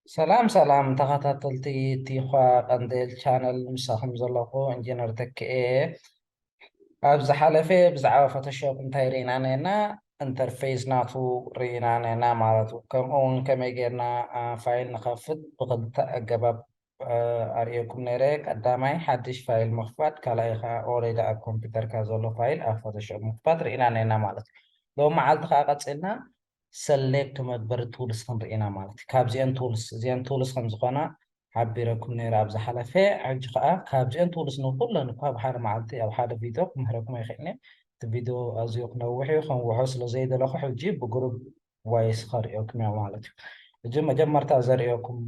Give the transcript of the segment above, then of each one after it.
ሰላም ሰላም ተኸታተልቲ ቲዃ ቀንዴል ቻነል ምሳኹም ዘለኹ ኢንጂነር ተኪኤ እየ። ኣብ ዝሓለፈ ብዛዕባ ፎቶሾፕ እንታይ ርኢና ነና ኢንተርፌስ ናቱ ርኢና ነና ማለት ከምኡ እውን ከመይ ጌርና ፋይል ንኸፍት ብኽልተ ኣገባብ ኣርእየኩም ነይረ ቀዳማይ ሓድሽ ፋይል ምኽፋት ካልኣይ ከኣ ኦሬዲ ኣብ ኮምፒተርካ ዘሎ ፋይል ኣብ ፎቶሾፕ ምኽፋት ርኢና ነይና ማለት እዩ ሎሚ መዓልቲ ከኣ ቀጺልና ሰሌክት መግበሪ ቱልስ ክንርኢ ኢና ማለት እዩ ካብዚኤን ቱልስ እዚኤን ቱልስ ከም ዝኾና ሓቢረኩም ነይረ ኣብ ዝሓለፈ ሕጂ ከኣ ካብዚኤን ቱልስ ንኹለን እኳ ኣብ ሓደ መዓልቲ ኣብ ሓደ ቪድዮ ክምህረኩም ኣይክእልን እቲ ቪድዮ ኣዝዮ ክነውሕ እዩ ከንውሖ ስለ ዘይደለኹ ሕጂ ብግሩብ ወይ ስኸርእዮኩም እዮ ማለት እዩ እጅ መጀመርታ ዘርእዮኩም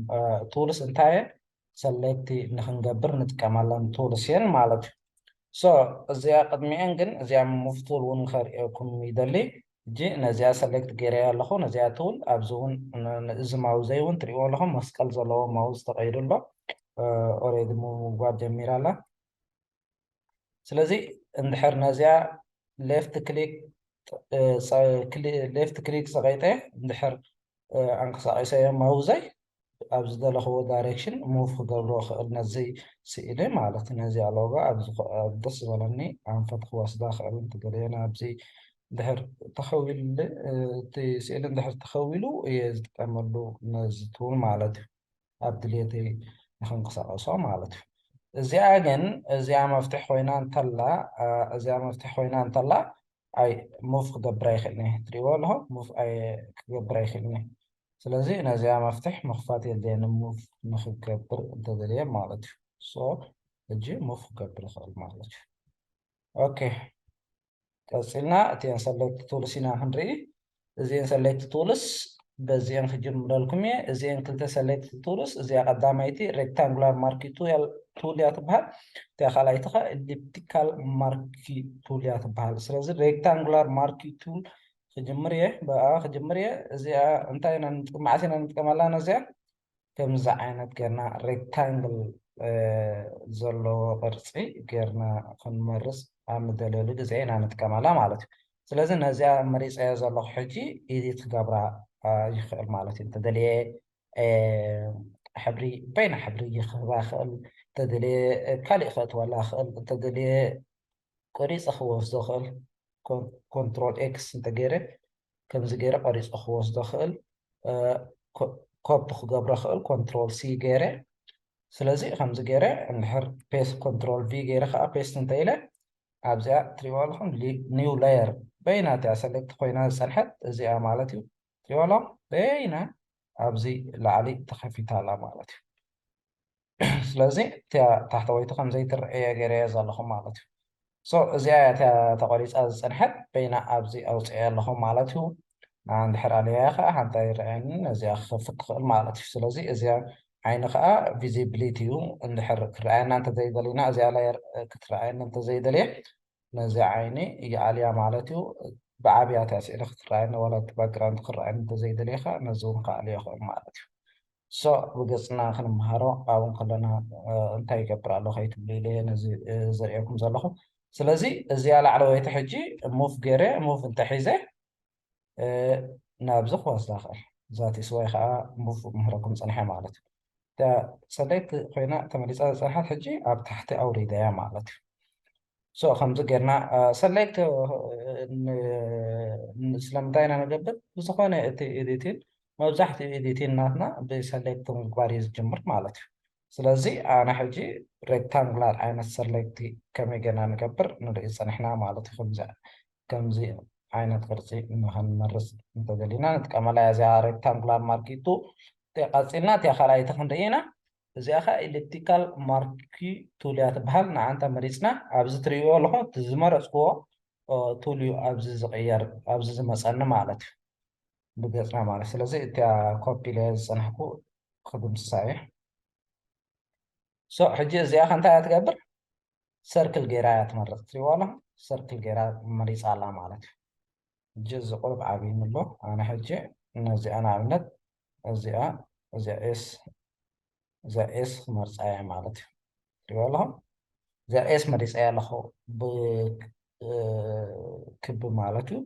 ቱልስ እንታየ ሰለቲ ንክንገብር ንጥቀመለን ቱልስ እየን ማለት እዩ ሶ እዚኣ ቅድሚኤን ግን እዚኣ ሙቭ ቱል እውን ከርእዮኩም ይደሊ እጂ ነዚኣ ሰሌክት ገይረያ ኣለኹ ነዚኣ ቱል ኣብዚ እውን እዚ ማውዘ እውን ትሪእዎ ኣለኹም መስቀል ዘለዎ ማውዝ ተቀይዱ ኣሎ ኦሬዲ ምጓድ ጀሚራ ኣላ ስለዚ እንድሕር ነዚኣ ሌፍት ክሊክ ሌፍት ክሊክ ፀቂጠ እንድሕር ኣንቀሳቂሰዮ ማውዘይ ኣብ ዝደለኽዎ ዳይሬክሽን ሙቭ ክገብሮ ክእል ነዚ ስእሊ ማለት ነዚኣ ሎጎ ኣብዚ ደስ ዝበለኒ ኣንፈት ክወስዳ ክእል እንትገለዮ ናብዚ እንድሕር ተኸዊሉ እቲ ስእሊ እንድሕር ተኸዊሉ እየ ዝጥቀመሉ ነዚ ቱል ማለት እዩ ኣብ ድሌተይ ንክንቅሳቀሶ ማለት እዩ። እዚኣ ግን እዚኣ መፍትሒ ኮይና እንተላ እዚኣ መፍትሒ ኮይና እንተላ ኣይ ሙቭ ክገብር ኣይክእልን እየ ትሪእዎ ኣለኹ ሙቭ ኣይ ክገብር ኣይክእልን እየ ስለዚ ነዚኣ መፍትሕ ምኽፋት የድልየኒ ሙቭ ንክገብር እንተደልየ ማለት እዩ ሶ እጂ ሙቭ ክገብር ይኽእል ማለት እዩ ኦኬ ቀጺልና እተን ሰለክት ቱልስ ኢና ክንርኢ እዚኤን ሰለክት ቱልስ በዚኤን ክጅምረልኩም እየ እዚኤን ክልተ ሰለክት ቱልስ እዚኣ ቀዳማይቲ ሬክታንጉላር ማርኪ ቱል እያ ትበሃል እቲኣ ካልኣይቲ ከ ኤሊፕቲካል ማርኪ ቱል እያ ትበሃል ስለዚ ሬክታንጉላር ማርኪ ቱል ክጅምር እየ ብኣ ክጅምር እየ እዚኣ እንታይ ኢና ንጥቀም መዓስ ኢና ንጥቀመላ ነዚኣ ከምዚ ዓይነት ገርና ሬክታንግል ዘለዎ ቅርፂ ገርና ክንመርፅ ኣብ ንደለሉ ግዜ ኢና ንጥቀመላ ማለት እዩ ስለዚ ነዚኣ መሪፀዮ ዘለኹ ሕጂ ኢዲት ክገብራ ይኽእል ማለት እዩ እንተደልየ ሕብሪ በይና ሕብሪ ይኽህባ ይኽእል እንተደልየ ካሊእ ከእትወላ ይኽእል እንተደልየ ቆሪፀ ክወስዶ ይኽእል ኮንትሮል ኤክስ እንተገይረ ከምዚ ገይረ ቀሪፀ ክወስዶ ክእል ኮፒ ክገብሮ ክእል ኮንትሮል ሲ ገይረ ስለዚ ከምዚ ገይረ እንድሕር ፔስት ኮንትሮል ቪ ገይረ ከዓ ፔስት እንተኢለ ኣብዚኣ ትሪእዋ ኣለኹም ኒው ላየር በይና እቲኣ ሰለክት ኮይና ዝፀንሐት እዚኣ ማለት እዩ ትሪእዋ ኣለኹም በይና ኣብዚ ላዕሊ ተኸፊታ ኣላ ማለት እዩ ስለዚ እቲያ ታሕተወይቲ ከም ዘይትረኤየ ገይረየ ዘለኹ ማለት እዩ። ሶ እዚኣ እያ እቲያ ተቆሪፃ ዝፀንሐት በይና ኣብዚ ኣውፅኤያ ኣለኹ ማለት እዩ። እንድሕር ኣልያያ ከዓ ሓንቲ ኣይረኣየንን ነዚኣ ክኸፍት ትኽእል ማለት እዩ። ስለዚ እዚኣ ዓይኒ ከዓ ቪዚብሊቲ እዩ። እንድሕር ክረኣየና እንተዘይደሊና እዚኣ ላየር ክትረኣየኒ እንተዘይደልየ ነዚኣ ዓይኒ ይኣልያ ማለት እዩ። ብዓብያ እቲያ ስእሊ ክትረኣየኒ ዋላ እቲ ባክግራውንድ ክረኣየኒ እንተዘይደልየ ከዓ ነዚ እውን ክኣልዮ ይኽእል ማለት እዩ። ሶዕ ብገጽና ክንመሃሮ ኣብ እንከለና እንታይ ይገብር ኣሎ ከይትብሉ ኢለየ ነዚ ዘርእየኩም ዘለኹ። ስለዚ እዚኣ ላዕለወይቲ ሕጂ ሙቭ ገይረ ሙቭ እንተሒዘ ናብዚ ክወስዳ ይኽእል ዛት ኢስ ዋይ ከኣ ሙቭ ክምህረኩም ጸኒሐ ማለት እዩ። እታ ጸለይቲ ኮይና ተመሊሳ ዝጸንሐት ሕጂ ኣብ ታሕቲ ኣውሪደያ ማለት እዩ። ሶ ከምዚ ጌርና ሰሌክት ስለምንታይ ኢና ንገብር ብዝኾነ እቲ ኤዲቲን መብዛሕትኡ ኤዲቲን ናትና ብሰሌክት ምግባር እዩ ዝጅምር ማለት እዩ ስለዚ ኣነ ሕጂ ሬክታንጉላር ዓይነት ሰሌክት ከመይ ጌርና ንገብር ንርኢ ጸኒሕና ማለት እዩ ከምዚ ከምዚ ዓይነት ቅርጺ ንኸንመርጽ እንተደሊና ንጥቀመላ እዚኣ ሬክታንጉላር ማርኪቱ ቀጺልና እቲኣ ካልኣይቲ ክንርኢ ኢና እዚኣ ከኣ ኤሊፕቲካል ማርኪ ቱል እያ ትበሃል ንኣንታ መሪጽና ኣብዚ ትርእይዎ ኣለኹም እቲ ዝመረጽክዎ ቱል እዩ ኣብዚ ዝቕየር ኣብዚ ዝመጸኒ ማለት እዩ ብገጽና ማለት ስለዚ እቲኣ ኮፒ ኢለ ዝጸናሕኩ ክድምስሳ እየ ሶ ሕጂ እዚኣ ከ እንታይ እያ ትገብር ሰርክል ገይራ እያ ትመርጽ ትሪእዋ ኣለኹም ሰርክል ገይራ መሪጻ ኣላ ማለት እዩ ሕጂ እዚ ቁሩብ ዓብዩኒ ኣሎ ኣነ ሕጂ ነዚኣ ንኣብነት እዚኣ እዚኣ ኤስ እዚኣ ኤስ ክመርጻ እየ ማለት እዩ ትሪእዎ ኣለኹም እዚኣ ኤስ መሪጸያ ኣለኹ ክቢ ማለት እዩ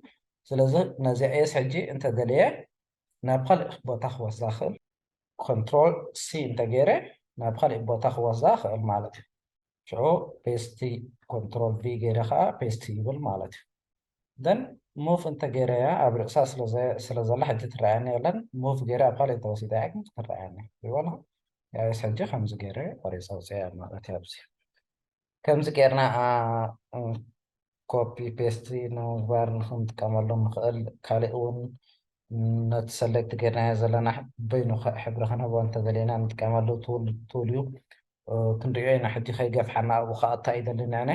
ስለዚ ነዚኣ ኤስ ሕጂ እንተደልየ ናብ ካልእ ቦታ ክወስዳ ክእል ኮንትሮል ሲ እንተገይረ ናብ ካልእ ቦታ ክወስዳ ክእል ማለት እዩ ሽዑ ፔስቲ ኮንትሮል ቪ ገይረ ከዓ ፔስቲ ይብል ማለት እዩ ደን ሙቭ እንተገይረያ ኣብ ርእሳ ስለ ዘላ ሕጂ ትረኣየኒ የለን ሙቭ ገይረ ኣብ ካልእ እንተወሲደያ ግን ክትረኣየኒ ይበላ ያስ ሕጂ ከምዚ ገይረ ቆሪፀ ውፅያ ማለት እዩ ኣብዚ ከምዚ ገይርና ኮፒ ፔስት ንምግባር ንክንጥቀመሉ ንክእል ካሊእ እውን ነቲ ሰሌክት ገይርናዮ ዘለና በይኑ ሕብሪ ክንህቦ እንተደሊና ንጥቀመሉ ቱል እዩ ክንሪኦ ኢና ሕጂ ከይገፍሓና ኣብኡ ከዓ እንታይ ይደሊ ንዕነ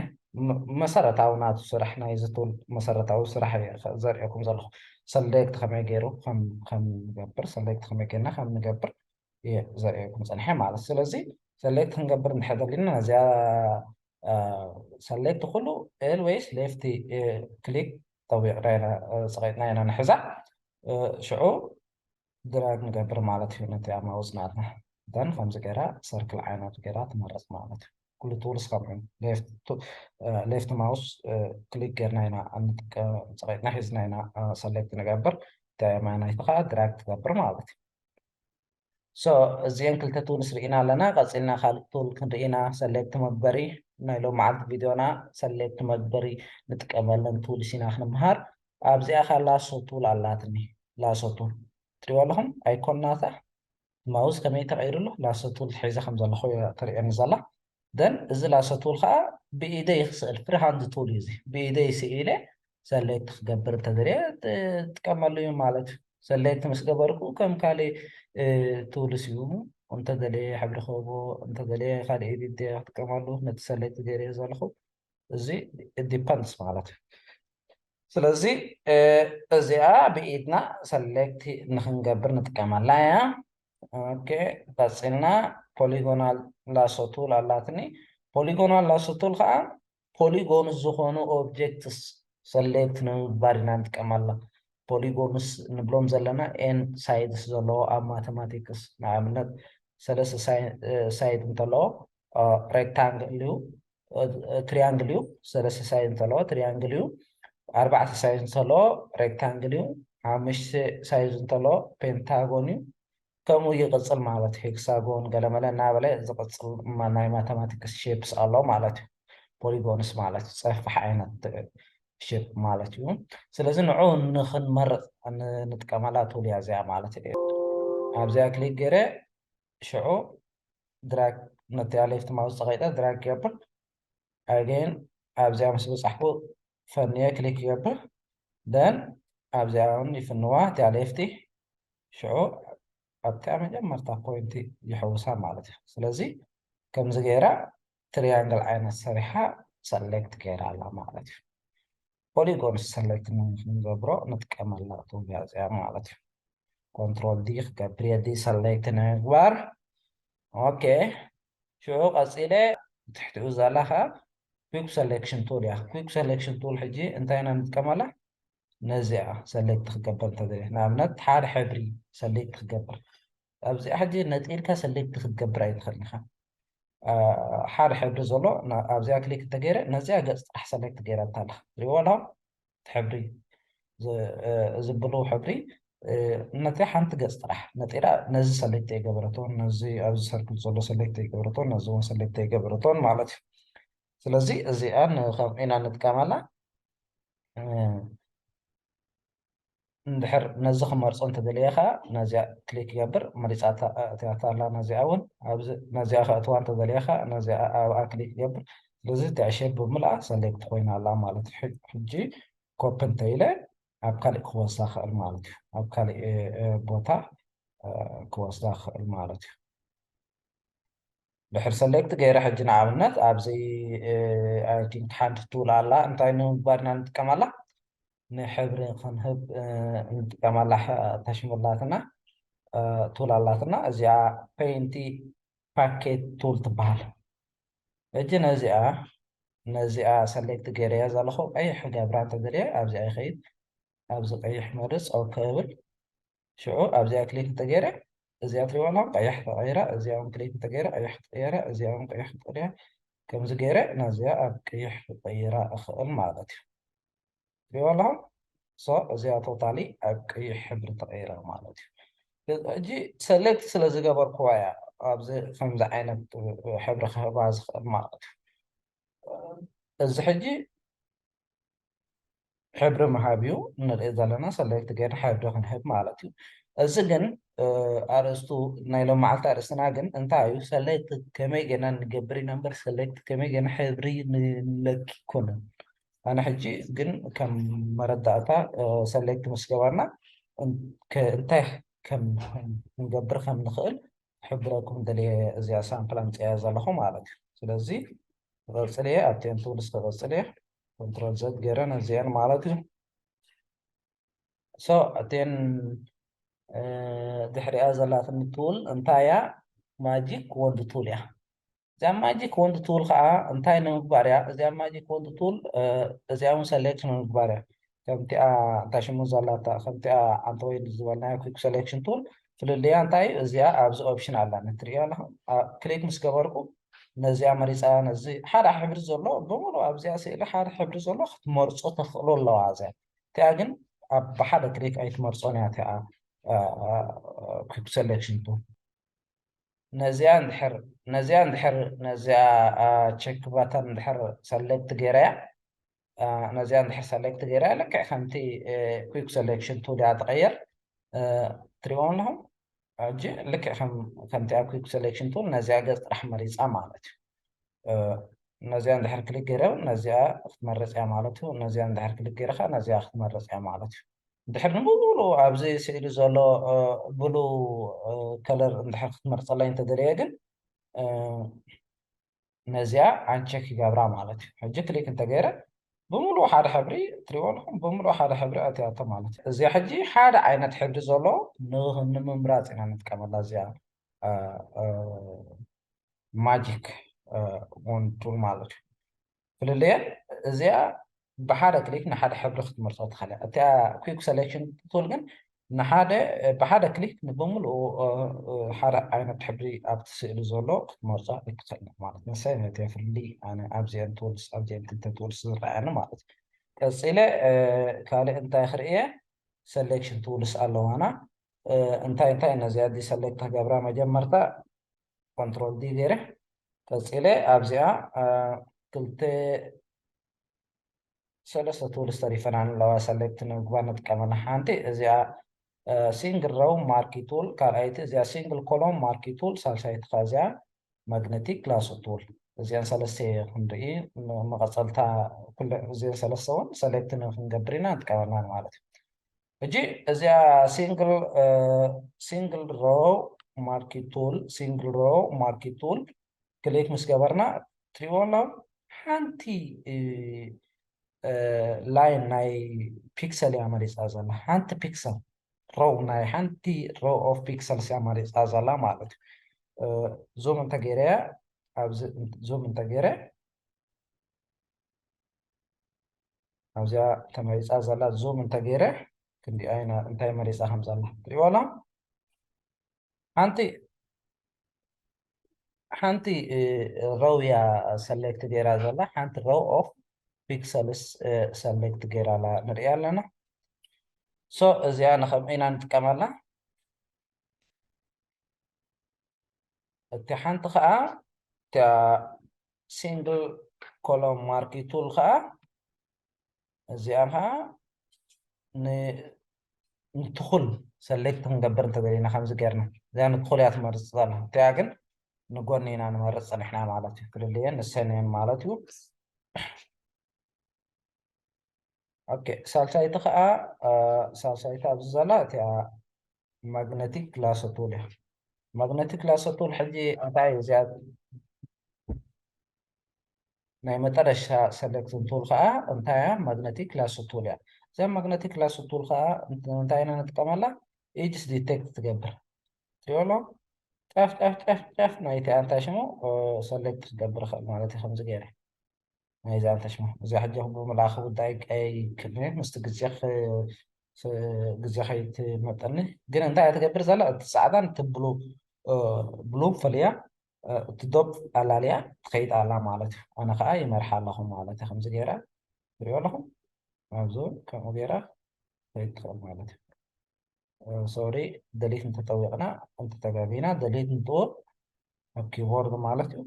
መሰረታዊ ናቱ ስራሕ ናይዚ ቱል መሰረታዊ ስራሕ እዩ ዘርእየኩም ዘለኹ ሰሌክት ከመይ ገይሩ ከምንገብር ሰሌክት ከመይ ገይርና ከምንገብር እዩ ዘርእየኩም ፀንሐ ማለት ስለዚ ሰሌክት ክንገብር እንድሕር ደሊና ነዚኣ ሰሌክት ኩሉ ኤል ወይስ ሌፍቲ ክሊክ ጠዊቕና ኢና ፀቒጥና ኢና ንሕዛ ሽዑ ድራግ ንገብር ማለት እዩ ነቲ ኣማውዝ ናትና ደን ከምዚ ገይራ ሰርክል ዓይነት ገይራ ትመረፅ ማለት እዩ ኩሉ ቱልስ ከምኡ ሌፍት ማውስ ክሊክ ገርና ኢና እንጥቀም ፀቒጥና ሒዝና ኢና ሰሌክት ንገብር ተማናይቲ ከዓ ድራግ ትገብር ማለት እዩ so እዚኤን ክልተ tools ሪኢና ኣለና ቀጺልና ካልእ tool ክንሪኢ ኢና select መግበሪ ናይ ሎምዓልቲ ቪድዮና select መግበሪ ንጥቀመለን tools ኢና ክንምሃር ኣብዚኣ ከኣ lasso tool ኣላትኒ lasso tool ትሪእዎ ኣለኹም icon ናታ mouse ከመይ ተቀይሩ ኣሎ lasso tool ሒዘ ከምዘለኹ እያ ተርእየኒ ዘላ then እዚ ላሶ ቱል ከኣ ብኢደይ ክስእል ፍሪ ሃንድ ቱል እዩ እዚ ብኢደይ ስኢለ ሰሌክት ክገብር እንተደልየ ጥቀመሉ እዩ ማለት እዩ ሰሌክት ምስ ገበርኩ ከም ካልእ ቱልስ እዩ እንተደልየ ሕብሪ ክህቦ እንተደልየ ካልእ ኤዲት ክጥቀመሉ ነቲ ሰሌክት ገይረዮ ዘለኹ እዚ ዲፐንድስ ማለት እዩ ስለዚ እዚኣ ብኢድና ሰሌክት ንክንገብር ንጥቀመላ እያ ኦኬ ቀጺልና ፖሊጎናል ላሶ ቱል ኣላትኒ ፖሊጎናል ላሶ ቱል ከዓ ፖሊጎን ዝኾኑ ኦብጀክትስ ሰሌክት ንምግባር ኢና ንጥቀመላ ፖሊጎንስ ንብሎም ዘለና ኤን ሳይድስ ዘለዎ ኣብ ማቴማቲክስ ንኣብነት ሰለስተ ሳይድ እንተለዎ ሬክታንግል እዩ ትሪያንግል እዩ ሰለስተ ሳይድ እንተለዎ ትሪያንግል እዩ ኣርባዕተ ሳይድ እንተለዎ ሬክታንግል እዩ ሓሙሽተ ሳይድ እንተለዎ ፔንታጎን እዩ ከምኡ ይቕፅል ማለት እዩ ሄክሳጎን ገለመለ እናበለ ዝቕፅል ናይ ማተማቲክስ ሼፕስ ኣሎ ማለት እዩ ፖሊጎንስ ማለት እዩ ፀፍሕ ዓይነት ሼፕ ማለት እዩ ስለዚ ንዑ ንክንመርፅ ንጥቀመላ ቱልያ እዚኣ ማለት እዩ ኣብዚኣ ክሊክ ገይረ ሽዑ ድራግ ነቲኣ ሌፍት ማውዝ ፀቂጠ ድራግ ይገብር ኣገይን ኣብዚኣ ምስ በፃሕኩ ፈንየ ክሊክ ይገብር ደን ኣብዚኣ እውን ይፍንዋ እቲኣ ሌፍቲ ሽዑ ኣብቲኣ መጀመርታ ፖይንቲ ይሕውሳ ማለት እዩ ስለዚ ከምዚ ገይራ ትሪያንግል ዓይነት ሰሪሓ ሰሌክት ገይራ ኣላ ማለት እዩ ፖሊጎን ሰለክት ንክንገብሮ ንጥቀመላ ተውግያ እዚኣ ማለት እዩ ኮንትሮል ዲ ክገብር የዲ ሰለክት ንምግባር ኦኬ ሽዑ ቀፂለ ትሕቲኡ ዘላ ከዓ ኩክ ሰሌክሽን ቱል እያ ኩክ ሰሌክሽን ቱል ሕጂ እንታይ ኢና ንጥቀመላ ነዚኣ ሰሌክት ክገብር እንተዘይ ንኣብነት ሓደ ሕብሪ ሰሌክት ክገብር ኣብዚኣ ሕጂ ነጺልካ ሰሌክት ክትገብር ኣይትኽእልንኻ ሓደ ሕብሪ ዘሎ ኣብዚኣ ክሊክ እንተገይረ ነዚኣ ገጽ ጥራሕ ሰሌክት ገይራታ ኣለኻ ትሪእዎ ኣለኹም ሕብሪ እዚ ብሉ ሕብሪ ነቲ ሓንቲ ገጽ ጥራሕ ነጢራ ነዚ ሰሌክት ኣይገበረቶን ነዚ ኣብዚ ሰርክል ዘሎ ሰሌክት ኣይገበረቶን ነዚ እውን ሰሌክት ኣይገበረቶን ማለት እዩ ስለዚ እዚኣ ንከምኡ ኢና ንጥቀመላ እንድሕር ነዚ ክመርጾ እንተደልየ ከኣ ነዚኣ ክሊክ ክገብር መሪጻ ኣትያቶ ኣላ ነዚኣ ውን ኣብዚ ነዚኣ ከእትዋ እንተደልየ ከኣ ነዚኣ ኣብኣ ክሊክ ክገብር ስለዚ እታ ዕሸል ብምልኣ ሰሌክት ኮይና ኣላ ማለት እዩ ሕጂ ኮፒ እንተኢለ ኣብ ካልእ ክወስዳ ክእል ማለት እዩ ኣብ ካልእ ቦታ ክወስዳ ክእል ማለት እዩ ድሕር ሰሌክት ገይረ ሕጂ ንኣብነት ኣብዚ ኣይ ቲንክ ሓንቲ ቱል ኣላ እንታይ ንምግባር ኢና ንጥቀመላ ንሕብሪ ክንህብ ንጥቀመላ ታሽሙ ኣላትና ቱል ኣላትና እዚኣ ፔንቲ ፓኬት ቱል ትበሃል ሕጂ ነዚኣ ነዚኣ ሰሌክት ገይረያ ዘለኹ ቀይሕ ክገብራ እንተደልየ ኣብዚኣ ይኸይድ ኣብዚ ቀይሕ መርፅ ኦኬ እብል ሽዑ ኣብዚኣ ክሊክ እንተገይረ እዚኣ ትሪእዋ ኣለኹም ቀያሕ ተቐይራ እዚኣ ውን ክሊክ እንተገይረ ቀያሕ ትቕየራ እዚኣ ውን ቀያሕ ክትቕያ ከምዚ ገይረ ናዚኣ ኣብ ቀይሕ ክቐይራ እኽእል ማለት እዩ ትሪእዋ ኣለኹም ሶ እዚኣ ቶታሊ ኣብ ቀይሕ ሕብሪ ተቐይራ ማለት እዩ ሕጂ ሰሌክት ስለ ዝገበርክዋ እያ ኣብዚ ከምዚ ዓይነት ሕብሪ ክህባ ዝኽእል ማለት እዩ እዚ ሕጂ ሕብሪ ምሃብ እዩ እንርኢ ዘለና ሰለክት ገይር ሕብሪ ክንህብ ማለት እዩ እዚ ግን ኣርእስቱ ናይ ሎመዓልቲ ኣርእስትና ግን እንታይ እዩ ሰለክት ከመይ ገና ንገብር ኢና እምበር ሰለክት ከመይ ገና ሕብሪ ንለክ ይኮነን ኣነ ሕጂ ግን ከም መረዳእታ ሰለክት ምስ ገባና እንታይ ከም ክንገብር ከም ንኽእል ክሕብረኩም ደልየ እዚኣ ሳምፕል ኣምጺኣያ ዘለኹ ማለት እዩ ስለዚ ክቐጽል እየ ኣብ ቴን ቱልስ ክቐጽል እየ ኮንትሮል ዘድ ገይረ ነዚኤን ማለት እዩ ሶ ቴን ድሕሪኣ ዘላትኒ ቱል እንታይ እያ ማጂክ ወንድ ቱል እያ እዚኣ ማጂክ ወንድ ቱል ከዓ እንታይ ንምግባር እያ እዚኣ ማጂክ ወንድ ቱል እዚኣ እውን ሰሌክት ንምግባር እያ ከምቲኣ እንታይ ሽሙ ዘላታ ከምቲኣ ኣንተ ወይ ዝበልናዮ ኩክ ሰሌክሽን ቱል ፍልልያ እንታይ እዩ እዚኣ ኣብዚ ኦፕሽን ኣላ ንትሪኦ ኣለኹም ክሊክ ምስ ገበርኩ ነዚኣ መሪፃ ነዚ ሓደ ሕብሪ ዘሎ ብምሉ ኣብዚኣ ስእሊ ሓደ ሕብሪ ዘሎ ክትመርፆ ተኽእሎ ኣለዋ እዚኣ እቲኣ ግን ኣብ ብሓደ ክሊክ ኣይትመርፆን እያ እቲኣ ኩክ ሰሌክሽን ቱ ነዚኣ እንድሕር ነዚኣ እንድሕር ነዚኣ ቸክ ባታን እንድሕር ሰሌክት ገይረያ ነዚኣ እንድሕር ሰሌክት ገይረያ ልክዕ ከምቲ ኩክ ሰሌክሽን ቱል እያ ትቐየር ትሪእዎም ኣለኹም ሕጂ ልክዕ ከምቲ ኣብ ኩክ ሰሌክሽን ቱል ነዚኣ ገፅ ጥራሕ መሪፃ ማለት እዩ ነዚኣ እንድሕር ክሊክ ገይረ ነዚኣ ክትመርፅ እያ ማለት እዩ ነዚኣ እንድሕር ክሊክ ገይረ ከዓ ነዚኣ ክትመርፅ እያ ማለት እዩ እንድሕር ንብሉ ኣብዚ ስእሊ ዘሎ ብሉ ከለር እንድሕር ክትመርፀለይ እንተደለየ ግን ነዚኣ ኣንቸክ ይገብራ ማለት እዩ ሕጂ ክሊክ እንተገይረ ብምሉእ ሓደ ሕብሪ ትሪእዎ ኣለኹም ብምሉእ ሓደ ሕብሪ ኣትያቶ ማለት እዩ እዚኣ ሕጂ ሓደ ዓይነት ሕብሪ ዘሎ ንምምራፅ ኢና ንጥቀመላ እዚኣ ማጂክ ን ቱል ማለት እዩ ፍልልየ እዚኣ ብሓደ ክሊክ ንሓደ ሕብሪ ክትመርፆ ትኽእል እያ እቲኣ ኩክ ሰሌክሽን ቱል ግን ንሓደ ብሓደ ክሊክ ንብምልኡ ሓደ ዓይነት ሕብሪ ኣብቲ ስእሊ ዘሎ ክትመርፆ ይክእል ማለት ንሰይ ነቲ ፍልልይ ኣነ ኣብዚአን ቱልስ ኣብዚአን ክልተ ቱልስ ዝረኣየኒ ማለት እዩ ቀፂለ ካልእ እንታይ ክርእየ ሰሌክሽን ቱልስ ኣለዋና እንታይ እንታይ ነዚ ኣዲ ሰለክት ክገብራ መጀመርታ ኮንትሮል ዲ ገይረ ቀፂለ ኣብዚኣ ክልተ ሰለስተ ቱልስ ተሪፈናን ኣለዋ ሰለክት ንምግባር ንጥቀመላ ሓንቲ እዚኣ ሲንግል ረው ማርኪ ቱል ካልኣይቲ እዚኣ ሲንግል ኮሎም ማርኪ ቱል ሳልሳይቲ ከ እዚኣ ማግነቲክ ላሶ ቱል እዚኣን ሰለስተ ክንርኢ መቐፀልታ እዚአን ሰለስተ እውን ሰለክት ንክንገብር ኢና ንጥቀመናን ማለት እዩ ሕጂ እዚኣ ሲንግል ሲንግል ሮው ማርኪ ቱል ሲንግል ሮው ማርኪ ቱል ክሊክ ምስ ገበርና ትሪእዎ ኣሎም ሓንቲ ላይን ናይ ፒክሰል እያ መሪፃ ዘላ ሓንቲ ፒክሰል ሮው ናይ ሓንቲ ሮው ኦፍ ፒክሰልስ እያ መሪፃ ዘላ ማለት እዩ ዙም እንተገይረያ ኣብዚ ዙም እንተገይረ ኣብዚኣ ተመሪፃ ዘላ ዙም እንተገይረ ክንዲኣ ኢና እንታይ መሪፃ ከም ዘላ ትሪእዋ ኣላ ሓንቲ ሓንቲ ረው እያ ሰሌክት ገይራ ዘላ ሓንቲ ረው ኦፍ ፒክሰልስ ሰሌክት ገይራ ኣላ ንሪእያ ኣለና ሶ እዚኣ ንከምኡ ኢና ንጥቀመላ እታ ሓንቲ ከዓ እታ ሲንግል ኮሎም ማርኪ ቱል ከዓ እዚኣ ከዓ ንትኹል ሰሌክት ክንገብር እንተደሊና ከምዚ ገርና እዚኣ ንትኹል እያ ትመርፅ ዘላ እቲኣ ግን ንጎኒ ኢና ንመርፅ ፀኒሕና ማለት እዩ ክልልየን ንሰን እየን ማለት እዩ ኦኬ ሳልሳይቲ ከኣ ሳልሳይቲ ኣብዚ ዘላ እቲኣ ማግነቲክ ላሰቱል እያ ማግነቲክ ላሰቱል ሕጂ እንታይ እዚኣ ናይ መጠረሻ ሰለክትን ቱል ከኣ እንታይ እያ ማግነቲክ ላሰቱል እያ እዛ ማግነቲክ ላሰቱል ከኣ እንታይ ኢና ንጥቀመላ ኢጅስ ዲቴክት ትገብር ትሪኦ ኣሎ ጫፍ ጫፍ ጫፍ ጫፍ ናይቲ ኣንታይ ሽሙ ሰለክት ክገብር ይኽእል ማለት እዩ ከምዚ ገይረ ናይ ዛንታ ሽማ እዚኣ ሕጂ ብምልኣኽ ጉዳይ ኣይክእልን'የ ምስቲ ግዜ ግዜ ከይትመጠኒ ግን እንታይ እያ ትገብር ዘላ እቲ ጻዕዳን እቲ ብሉ ብሉ ፈልያ እቲ ዶብ ኣላልያ ትኸይድ ኣላ ማለት እዩ ኣነ ከኣ ይመርሓ ኣለኹ ማለት እዩ ከምዚ ገይራ ትሪኦ ኣለኹም ኣብዚ ከምኡ ገይራ ከይድ ትኽእል ማለት እዩ ሶሪ ደሊት እንተጠዊቕና እንተተጋጊና ደሊት ንጥውቕ ኣብ ኪቦርድ ማለት እዩ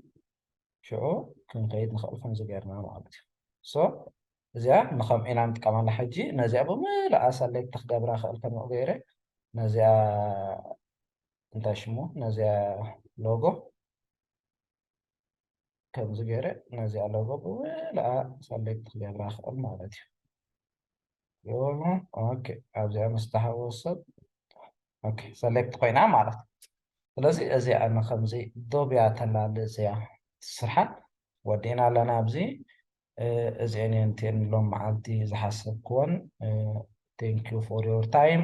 ሽዑ ክንከይድ ንኽእል ከምዚ ገርና ማለት እዩ ሶ እዚኣ ንኸምኡ ኢና ንጥቀመላ ሕጂ ነዚኣ ብምልኣ ሰሌክት ክገብራ ክእል ከምኡ ገይረ ነዚኣ እንታይ ሽሙ ነዚኣ ሎጎ ከምዚ ገይረ ነዚኣ ሎጎ ብምልኣ ሰሌክት ክገብራ ይኽእል ማለት እዩ ዮሎ ኦኬ ኣብዚኣ ምስ ተሃወስ ሰብ ኦኬ ሰሌክት ኮይና ማለት እዩ ስለዚ እዚኣ ንከምዚ ዶብያ ተላሊ እዚኣ ስርሓን ወዲእና ኣለና ኣብዚ እዚአን እየን እትየን ሎም መዓልቲ ዝሓሰብክወን ቴንክ ዩ ፎር ዮር ታይም